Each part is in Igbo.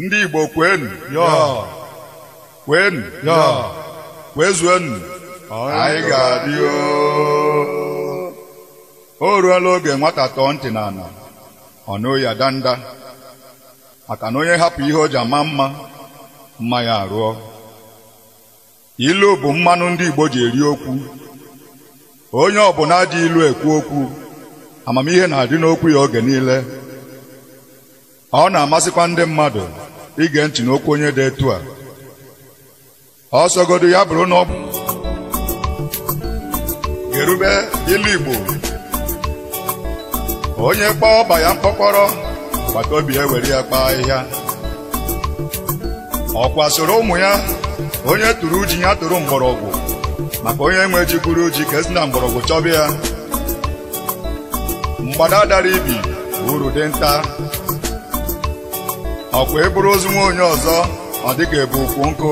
ndị Igbo kwenu kwenu kwezuenu anyị ga-adị o ruola oge nwata tọọ ntị n'ala ọ nụ ya danda maka na onye hapụ ihe o ji ama mma mma ya arụọ ilu bụ mmanụ ndị Igbo ji eri okwu onye ọbụla ji ilu ekwu okwu amamihe na-adị n'okwu ya oge niile ọ na-amasịkwa ndị mmadụ ige ntị n'okwu onye dị etu a ọ sọgodu ya bụrụ onye ọ bụ gerube ilu Igbo onye kpọọ ọba ya mkpọkọrọ agbata obi ya were ya kpaa ahịhịa ọkwa sịrị ụmụ ya onye tụrụ ji ya tụrụ mgbọrọgwụ maka onye nwe ji gwuru ji ka e si na mgbọrọgwụ chọba ya mgbada dara ibi uru dinta ọ kwa e buru ozu nwa onye ọzọ ọ dịka e bu ukwu nkụ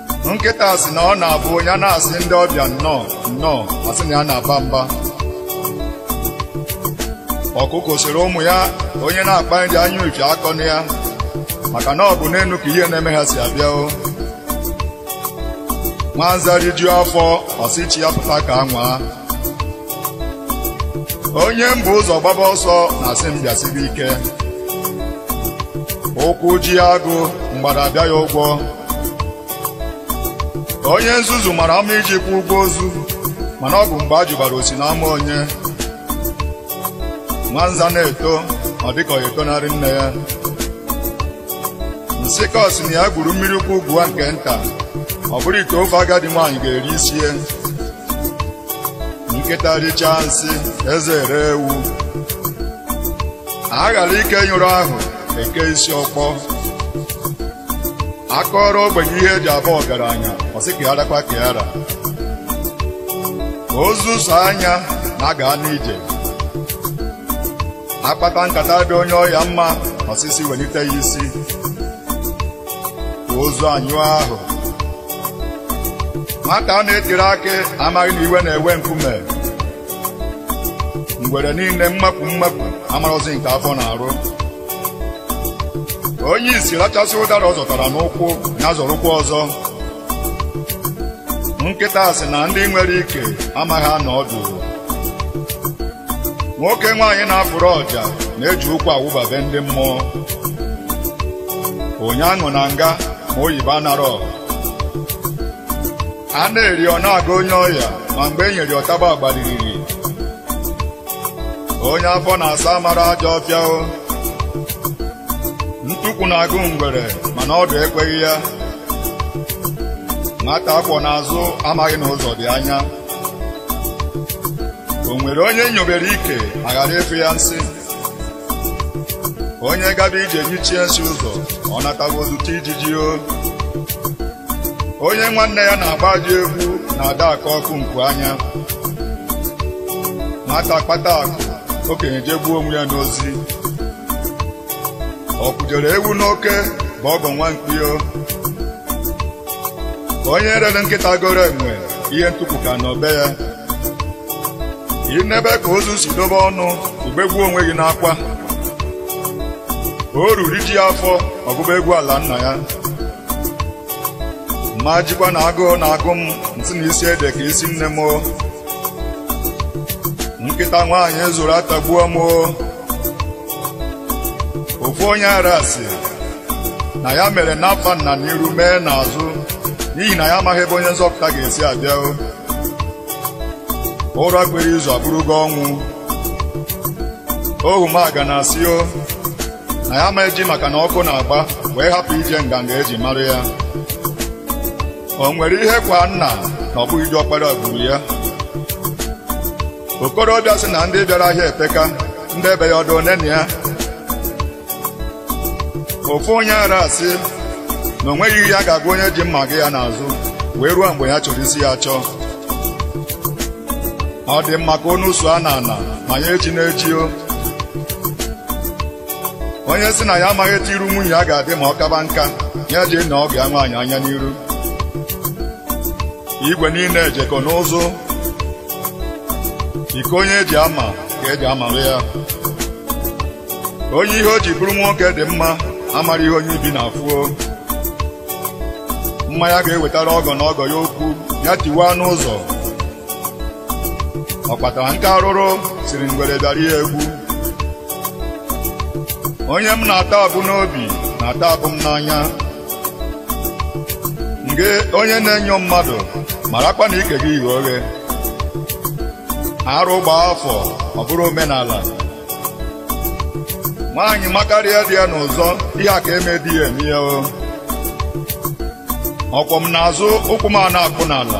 nkịta sị na ọ na-abụ ya na-asị ndị ọbịa nnọọ nnọọ a sị na ya na-aba mba ọkụkọ sịrị ụmụ ya onye na-akpa nri anya uche akọna ya maka na ọ bụ n'elu ka ihe na-eme ha si abịa o nwanza rijuo afọ ọ sị chi ya pụta ka a nwaa onye m bu ụzọ gbaba ọsọ na-asị m gbasibe ike ụkwụ jie agụ mgbada abịa ya ụgwọ onye nzuzu mara mma iji kwụọ ụgwọ ozu mana ọ bụ mgbe a jụbara o si n'ama onye nwanza na-eto ọ dịka ọ etonarị nne ya nsịkọ sị na ya gwuru mmiri ukwu gwuo nke nta ọ bụrụ ite ofe agadi nwaanyị ga-eri isie nkịta richaa nsị eze ere ewu a ghara ike nyụrụ ahụ e kee isi ọkpọ a kọọrọ ogbenye ihe eji abụ ọgaranya ọ sị ka ya rakwa ka ya ra ozu sọ anya na-aga n'ije a kpata nkata dị onye ọya mma ọ sị sị welite ya isi ka ozu anyụ ahụ nwata a na-etiri akị amaghị na iwe na-ewe nkume ngwere niile mmakpu mmakpu amarozi nke afọ na-arụ onye isi rachasịa ụdara ọ zọtara n'ụkwụ ya zọrọkwa ọzọ nkịta sị na ndị nwere ike amaghị anọ ọdụ nwoke nwaanyị na-afụrụ ọja na-eji ụkwụ awụba be ndị mmụọ onye aṅụna nga ma oyibo anarọ a na-eri ọ na-aga onye ọya ma mgbe e nyere ọtaba agbaliriri onye afọ na-asa amara ajọ ọfịa o ntukwu na-agụ ngwere mana ọdụ ekweghị ya nwata a kwọ n'azụ amaghị na ụzọ dị anya o nwere onye nyobere ike ma ghara ịfụ ya nsị onye gaba ije nyichie nsị ụzọ ọ nataba o zute ijiji o onye nwanne ya na-agba ajọ egwu na-ada akọ ọkọ nku anya nwata kpata akụ okenye jegbuo onwe ya n'ozi ọ kpụjere ewu n'oke bụ ọgọ nwa mkpi o onye rere nkịta goro enwe ihe ntukwu ka nọ be ya i nebe ka ozu si dobe ọnụ i begbuo onwe gị n'akwa oru rijie afọ ọ gụba egwu ala nna ya m ma ejikwa na agụụ na-agụ m m sị na isi ede ka isi nne m o. nkịta nwaanyị zụrụ atagbuo m o. ofu onye ara sị na ya mere n'afa nna n'iru mee n'azụ n'ihi na ya amaghị ebe onye nzọpụta ga-esi abịa o. ụra kwere izu abụrụgo ọnwụ ogwumagana sị o na ya ma eji maka na ọkụ na-agba wee hapụ ije nganga e ji mara ya o nwere ihe kwaa nna na ọ bụghị diọkpara gburu ya okorobịa sị na ndị bịara ahịa epeka ndị be ya ọ dụ one na ya ofu onye ara sị na o nweghị ihe ya ga-agwa onye ji mma aga ya n'azụ wee ruo mgbe ya chọrọ isi ya achọ ọ dị mma ka onu so a na ana ma ya ejina eji o onye sị na ya amaghị etu iru nwunye ya ga-adị ma ọ kaba nka ya jee nee ọgọ ya nwaanyị anya n'iru igwe niile jekọ n'ụzụ iko onye ji ama ka e ji amalụ ya onye ihe o ji bụrụ nwoke dị mma amara ihe onye ibi na-afụ o mmanya ga-ewetara ọgọ na ọgọ ya okwu ya tiwaa n'ụzọ ọ kpatara nkụ arụrụ sịrị ngwere bịara ya egwu onye m na-ata abụ n'obi na-ata abụ m n'anya ngị onye na-enyo mmadụ marakwa na ike gị ghe oghe arụ gbaa afọ ọ bụrụ omenala nwaanyị makarịa di ya n'ụzọ ihe a ka eme di ya eme ya o ọkwọ m n'azụ ụkwụ m ana-akpụ n'ala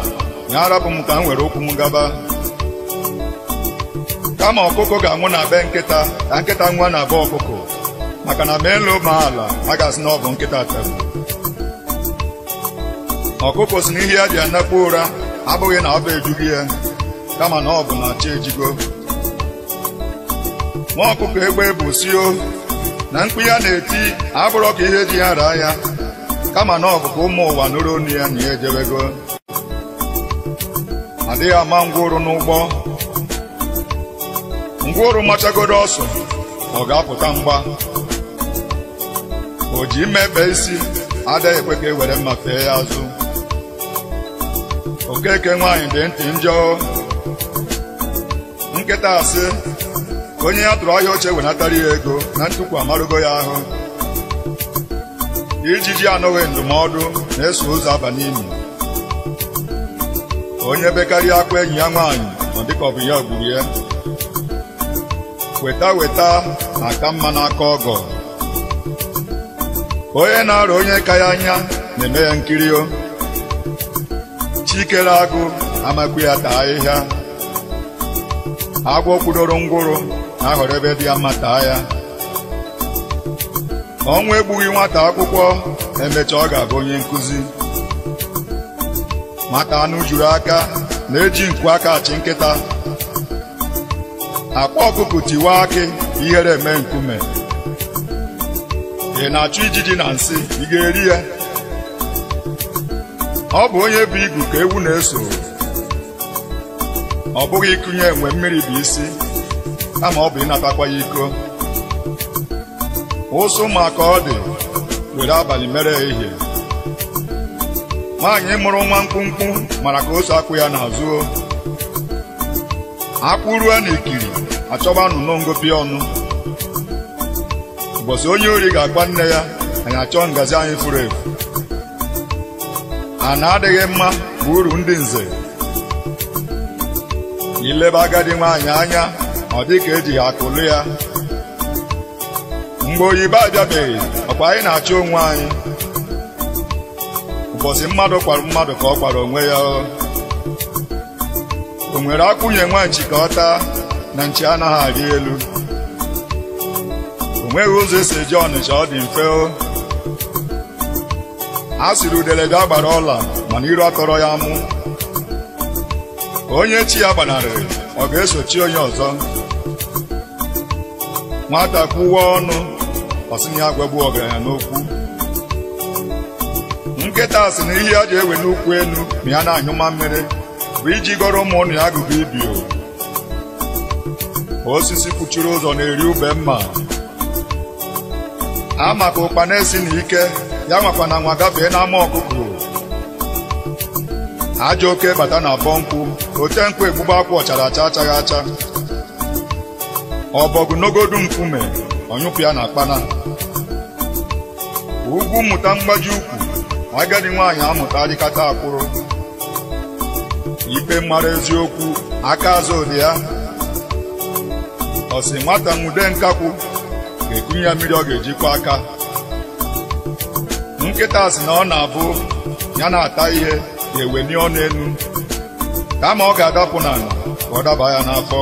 ya arapụ m ka m were ụkwụ m gaba kama ọkụkọ ga-anwụ na be nkịta ka nkịta nwụọ na be ọkụkọ maka na ma elu ma ala a ga-asị na ọ bụ nkịta tara ọkụkọ sị n'ihe ya ji anakpu ụra abụghị na ọba ejughị ya kama na ọ bụ na chi ejigo nwa ọkụkọ egbe bu sị na mkpu ya na-eti abụrọ ka ihe ji ya raa ya kama na ọ bụ ka ụmụ ụwa nụrụ onu ya na ya ejebego adịghị ama ngwụrọ n'ụgbọ ngwụrọ machagodo ọsọ ọ ga-apụta mgba o ji mma ebe isi adịghị ekwe ka e were mma fee ya azụ okeke nwaanyị dị ntị njọ nkịta sị onye ya tụrụ ahịa oche wenatara ya ego na ntukwu amarugo ya ahụ ijiji anụghị ndụmọdụ na-eso ozu aba n'ini onye bekarịa akwa enyi ya nwaanyị ọ dịka ọ bụ ya gburu ya weta weta na-aka mma n'aka ọgọ onye na-arọ onye ka ya anya na-eme ya nkiri o chi kere agụ ama ekwe ya taa ahịhịa agwọ kwudoro ngwụrọ na-ahọrọ ebe dị ya mma taa ya ọnwụ egbughị nwata akwụkwọ emecha ọ ga-abụ onye nkụzi nwata anụ juru aka na-eji nku aka achụ nkịta akwa ọkụkọ tiwaa akị ihere eme nkume ị na-achụ ijiji na nsị ị ga-eri ya ọ bụ onye bu igu ka ewu na-eso ọ bụghị ịkụnye enwe mmiri bụ isi kama ọ bụ ịnatakwa ya iko ụsụ ma ka ọ dị were abalị mere ehihie nwaanyị mụrụ nwa mkpụmkpụ mara ka o si akwọ ya n'azụ akwụ ruo n'ikiri achọba nnụnụ ngopi ọnụ ụbọchị onye ori ga-akwa nne ya anyị achọọ ngazi anyị furu efu ana adịghị mma bụ uru ndị nze i lebe agadi nwaanyị anya ọ dị ka ejighị akụ lụ ya mgbe oyibo abịabeghị ọkwa anyị na-achị onwe anyị ụbọchị mmadụ kwara mmadụ ka ọ kwara onwe ya o nwere akwụ nye nwa nchi ka ọ taa na nchi anaghị arị elu o nweghị ụzọ e si eje ọnịcha ọ dị mfe o a sịrị udele bịa gbara ọla mana iru atọrọ ya mụ onye chi ya gbanarịrị ọ ga-eso chi onye ọzọ nwata kwuwa ọnụ ọ sị na ya agwagbu ọgaranya n'okwu nkịta sị na ihe ya ji eweni ukwu enu ma ya na-anyụ mamịrị bụ iji gọrọ ụmụ ụnọ ya agụgọ ibi o. osisi kpuchiri ụzọ na-eri ube mma a ma ka ụkpana esina ike ya anwakwana anwa gafee n'ama ọkụkụ ajọ oke bata n'abọ nkwụ ote nkwụ egbuba akwụ ọ chara acha achaghị acha ọbọgwụ nogodu nkume ọ nyụpụ ya n'akpana ugwu mụta mgbaji ukwu agadi nwaanyị amụta arịkata akwụrụ ikpe mara eziokwu aka azụ dị ya ọ sị nwata nwude nkakwụ ga-ekunye ya mmiri ọ ga-eji kwọ aka nkịta sị na ọ na-abụ ya na-ata ihe ga-eweni ọnụ enu kama ọ ga-adapụ n'ala ka ọ daba ya n'afọ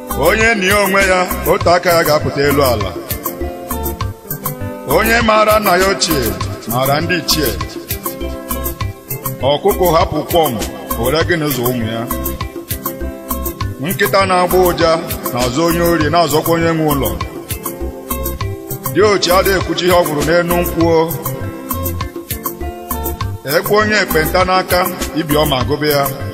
onye nie onwe ya otu aka ya ga-apụta elu ala onye maara nna ya ochie maara ndị ichie ọkụkọ hapụ kwọm were gịnị zụ ụmụ ya nkịta na-agbọ ụja na-azọ onye ori na-azọkwa onye nwe ụlọ diochi adịghị ekwucha ihe ọ hụrụ n'enu nkwụ o e kwe onye ekpenta n'aka ibi ọma agụba ya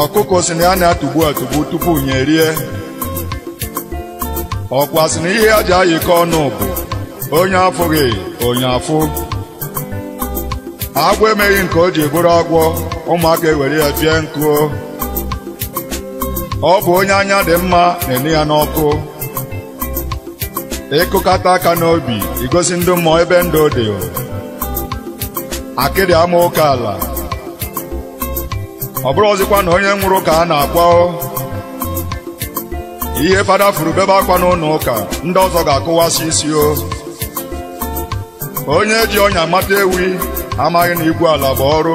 ọkụkọ sị na ya na-atụgbu atụgbu tupu nya erie ọkwa sị na ihe ha ji ayịkọ ọnụ bụ onye afụghị onye afụ agwọ emeghị nke o ji bụrụ agwọ ụmụaka ewere ya fie nkụ ọ bụ onye anya dị mma na-ene ya n'ọkụ ị kụkata aka n'obi i gosi ndị mmụọ ebe ndụ dị akịdị ama oke ala ọ bụrọzikwanụ onye nwụrụ ka a na-akwa ihe fada fụrụ bebe akwa n'ụlọ ụka ndị ọzọ ga-akụwasị isi o onye ji ọnya mata ewi amaghị na igwu ala bụ ọrụ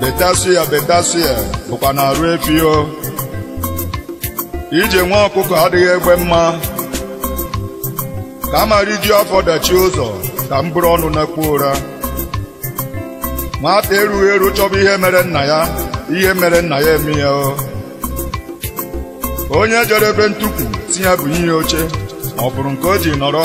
betasịa betasịa bụkwa n'arụ efi o ije nwa ọkụkọ adịghị egbe mma kama rijuo afọ dachie ụzọ ka m buru ọnụ nakpuo ụra nwata erughị eru chọba ihe mere nna ya ihe mere nna ya eme ya o onye jere be ntukwu sị ya bunye ya oche ọ fụrụ nke o ji nọrọ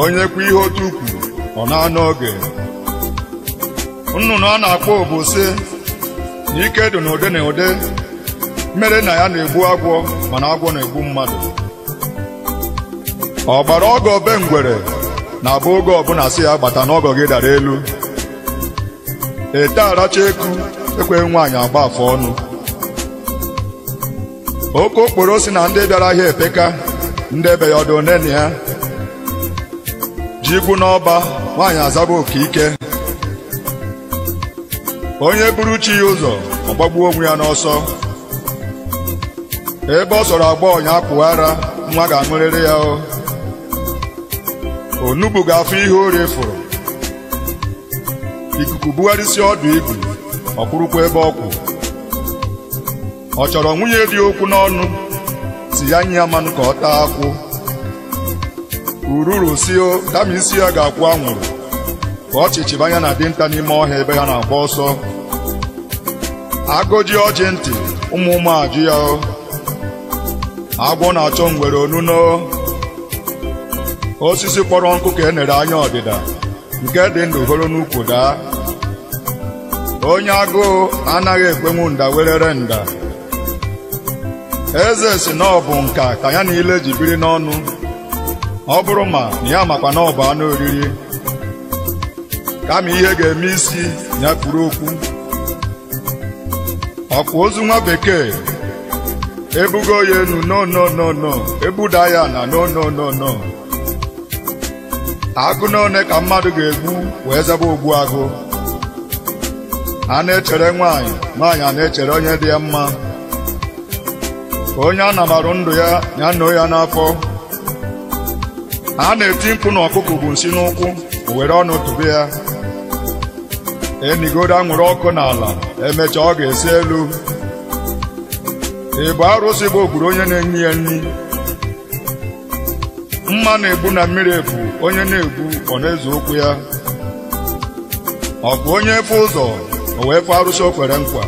onye kwụ ihe otu ụkwụ ọ na-anọ oge nnụnụ a na-akpọ obu sị na ike dị n'ụdị n'ụdị mere na ya na-egbu agwọ mana agwọ na-egbu mmadụ ọ gbara ọgọ be ngwere na-abụ oge ọbụla sị ya gbata na ọgọ gị dara elu ete aracha eku ekweghị nwaanyị agba afọ ọnụ oke okporo sị na ndị bịara ahịa epeka ndị be ya ọ dụ one ne ya ji gwụ n'ọba nwaanyị azaba oku ike onye buru chi ya ụzọ ọ gbagbuo onwe ya n'ọsọ ebe ọ sọrọ agbọghọ nya puo ara nwa ga-aṅụrịrị ya o onugbu ga-afụ ihe orie fụrụ ikuku bugharịsịa ọdụ igu ọ kwụrụkwa ebe ọ kwụ ọ chọrọ nwunye di okwu n'ọnụ sị ya nye ya mmanụ ka ọ taa akwụ ururu sị o kama isi ya ga-akwụ anwụrụ ka ọchịchị gbaa nya na dinta n'ime ọhịa ebe ha na-agba ọsọ agọjie ọjị ntị ụmụ mmụọ ajụ ya o agwọ na-achọ ngwere onuno osisi kpọrọ nkụ ka e nere anya ọdịda nke dị ndụ horo n'ukwu daa onye agụụ anaghị ekwenwu nda werere nda eze sị na ọ bụ nka ka ya na ile ji biri n'ọnụ ọ bụrụ ma na ya makwa na ọ bụ anụ oriri kama ihe ga-eme isi ya kpuru okpu ọ kwa ozu nwa bekee ebugo ya enu no no no no ebuda ya ana no no no no agụ na one ka mmadụ ga-egbu wee zaba ogbu agụ a na-echere nwaanyị nwaanyị ana-echere onye dị ya mma ka onye a namarụ ndụ ya ya noo ya n'afọ a na-eti mkpu na ọkụkụ bu nsị n'ụkwụ o were ọnụ tụbe ya enigodo anwụrụ ọkụ n'ala emechaa ọ ga-esi elu ị bụ arụsị bụ ogburu onye na-enye ya nri mma na-egbu na mmiri efu onye na-egbu ọ na-eze ụkwụ ya ọ bụ onye efe ụzọ o wee fụ arụsị o kwere nkwa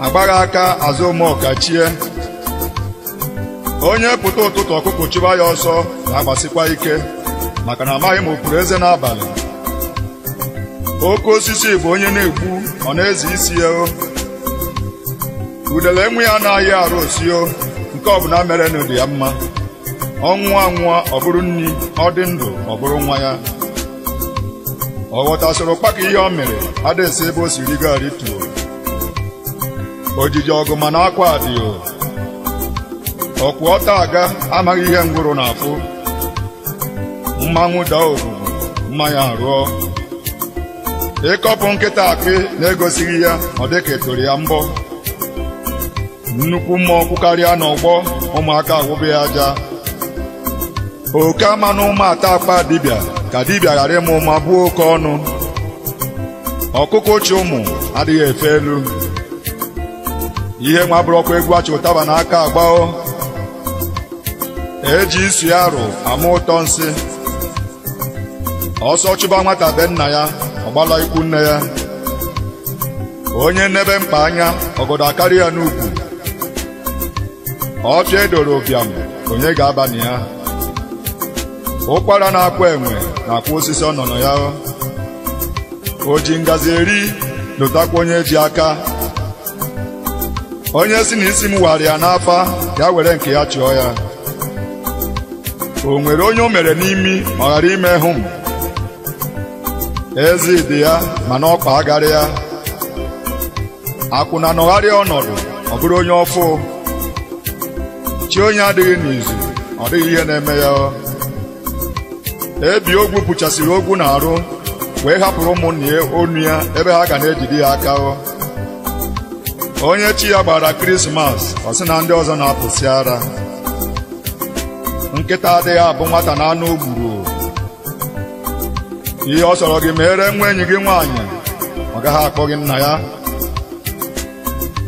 agbaghị aka azụ ụmụọka chie onye pụta ụtụtụ ọkụkụ chụba ya ọsọ na-agbasikwa ike maka na amaghị ma o puru eze n'abalị oke osisi bụ onye na-egbu ọ na-eze isi ya o udele nwa ya na-aya arụ ọ sị o nke ọbụla mere na ọ dị ya mma ọ nwụọ anwụọ ọ bụrụ nri ọ dị ndụ ọ bụrụ nwa ya ọ ghọtasịrị ụkpaka ihe ọ mịrị adịghị esi ebe o si rigo arituo ojiji ọgụ mana akwa adịghị ọkwụ ọtọ aga amaghị ihe ngwụrọ na-afụ mmanwụ daa ogugu mma ya arụọ ịkọpụ nkịta akpị na-egosighị ya ọ dịka a tụrụ ya mbọ nnukwu mmụọ kwụkarịa n'ọgbọ ụmụaka awụbe ya aja oke amana ụma ata akpa dibịa ka dibịa ghara ịma ụma bụọ oke ọnụ ọkụkọ chị ụmụ adịghị efe elu ihe nwa abụrọkwa egwu a chị ụtaba n'aka agba o eji isi arụ ama ụtọ nsị ọsọ chụba nwata be nna ya ọ gbala ikwu nne ya onye nebe mkpa anya ọgọdọ akarị ya n'ukwu ọfịa edoro ụbịam onye ga-aba na ya ụkwara na-akwa enwe na-akwa osisi ọ nọ na ya o ji ngazi eri lotakwa onye ji aka onye sị na isi m wara ya n'afa ya were nke ya chụọ ya o nwere onye o mere n'imi ma ọ ghara ime hụm ezi dị ya mana ọkpa agarị ya akwụna nọgharịa ọnọdụ ọ bụrụ onye ọfụụ chi onye adịghị n'izu ọ dịghị ihe na-eme ya ebi ogwu puchasịrị ogwu n'arụ wee hapụrụ ụmụnne ya onu ya ebe ha ga na-ejide ya aka onye chi ya gbaara krismas ọ sị na ndị ọzọ na-apụsị ara nkịta adịghị abụ nwata na anụ o gburu ihe ọ sọrọ gị mere nwa enyi gị nwaanyị ọ gaghị akpọ gị nna ya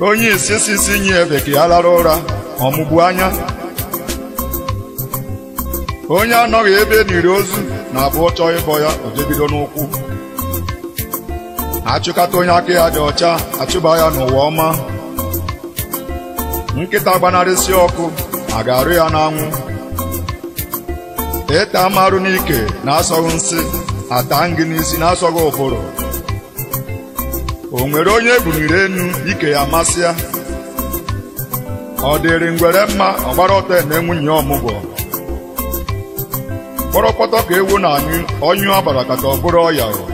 onye isi sị sị nye efe ka ya lara ụra ọ mụbu anya onye anọghị ebe e niri ozu na-abụ ọ chọọ ịbọ ya o jebido n'ụkwụ achụkata onye aka ya dị ọcha achụba ya n'ụwa ọma nkịta gbanarịsị ọkụ a ga-arụ ya n'anwụ ị taa m arụ n'ike na-asọghị nsị ataa m gị n'isi na-asọghị ụbụrụ o nwere onye e buliri enu ike ya masịa ọ dịrị ngwere mma ọ gbara ọtọ eme nwunye ọmụgwọ kpọrọkpọtọ ka ewu na-anyụ ọ nyụ agbarakata ọ bụrụ ọya o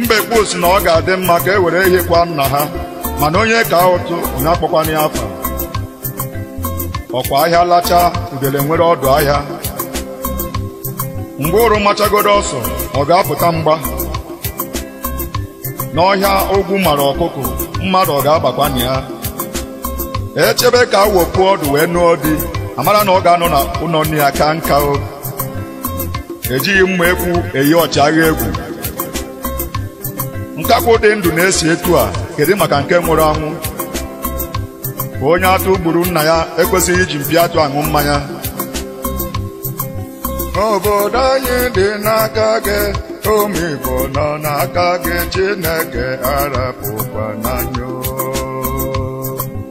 mbekwu si na ọ ga-adị mma ka e were ehi kwa nna ha mana onye kaa ụtụ onye akpọkwana ya afa ọ kwa ahịa lachaa udele nwere ọdụ ahịa ngwụrọ machagodo ọsọ ọ ga-apụta mgba n'ọhịa ogwu mara ọkụkụ mmadụ ọ ga-abakwa na ya e chebe ka awọ puo ọdụ wee nụọ di a mara na ọ ga-anọ na ụlọ nne ya kaa nka o ejighị mma ekwu eyi ọchịagha egwu nkakwụ dị ndụ na-esi etu a kedu maka nke nwụrụ anwụ ka onye atụ gburu nna ya ekwesịghị iji mpi atụ aṅụ mmanya obodo anyị dị n'aka gị ụmụ Igbo nọ n'aka gị Chineke arapụkwana anyị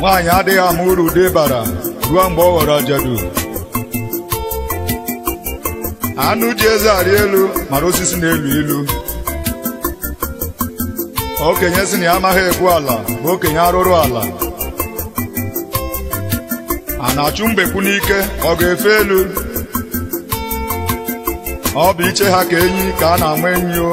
nwaanyị adịghị ama uru di bara ruo mgbe ọ ghọrọ ajadu anụ ji eze arị elu mara osisi na-elu ilu okenye si na ya amaghị egwu ala bụ okenye arụrụ ala a na-achụ mbekwu n'ike ọ ga-efe elu ọ bụ iche ha ka enyi ka a na-ama enyi o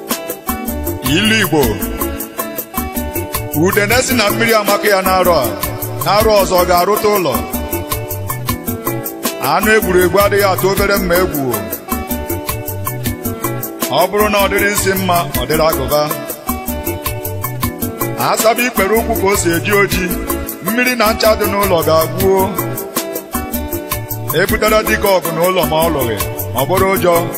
ilu igbo udene si na mmiri amaka ya n'arọ a n'arọ ọzọ ọ ga-arụta ụlọ anụ e gburu egbu adịghị atụ obere mma egwu o. ọ bụrụ na ọ dịrị isi mma ọ dịrị agụba a saba ikpere ụkwụ ka o si eji oji mmiri na ncha dị n'ụlọ ga-agwuo e butere dike ọgụ n'ụlọ ma ọ lụghị ọ bụrụ ụjọ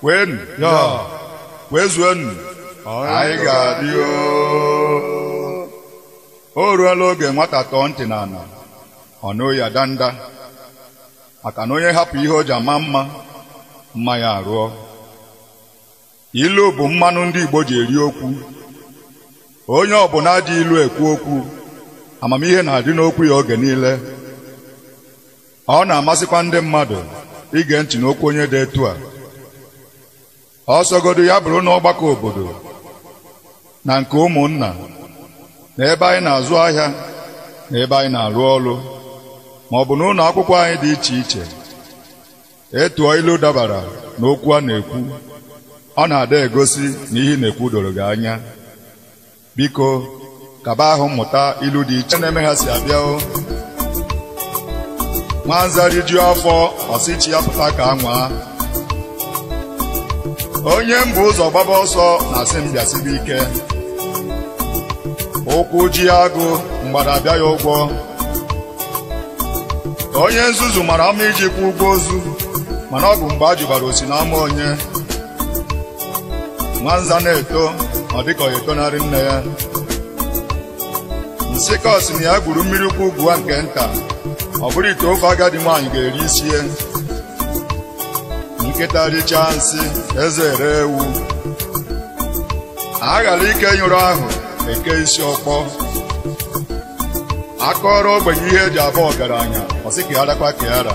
kwenu yọ kwezuenu anyị ga-adị o o ruola oge nwata tọọ ntị n'ala ọ nụ ụya danda maka na onye hapụ ihe o ji ama mma mma ya arụọ ilu bụ mmanụ ndị Igbo ji eri okwu onye ọbụla ji ilu ekwu okwu amamihe na-adị n'okwu ya oge niile Ọ na-amasịkwa ndị mmadụ ige ntị n'okwu onye dị etu a. Ọ sọgodu ya bụrụ n'ọgbakọ obodo na nke ụmụnna na ebe anyị na-azụ ahịa na ebe anyị na-arụ ọrụ ma ọ bụ n'ụlọ akwụkwọ anyị dị iche iche ị tụọ ilu dabara n'okwu a na-ekwu ọ na-ada egosi na ihe ị na-ekwu doro gị anya biko kaba ahụ mmụta ilu dị iche na-eme ha si abịa o nwanza rijuo afọ ọ sị chi ya pụta ka a nwaa onye m bu ụzọ gbaba ọsọ na-asị m bịasibe ike ụkwụ jie agụ mgbada abịa ya ụgwọ onye nzuzu mara mma iji kwụọ ụgwọ ozu mana ọ bụ mgbe a jụbara o si n'ama onye nwanza na-eto ọ dịka ọ ya-etonarị nne ya nsịkọ sị na ya gwuru mmiri ukwu gwuo nke nta ọ bụrụ ite ofe agadi nwaanyị ga-eri isi ya nkịta richaa nsị eze ere ewu a ghara ike nyụrụ ahụ e kee isi ọkpọ a kọọrọ ogbenye ihe e ji abụ ọgaranya ọ sị ka ya rakwa ka ya ra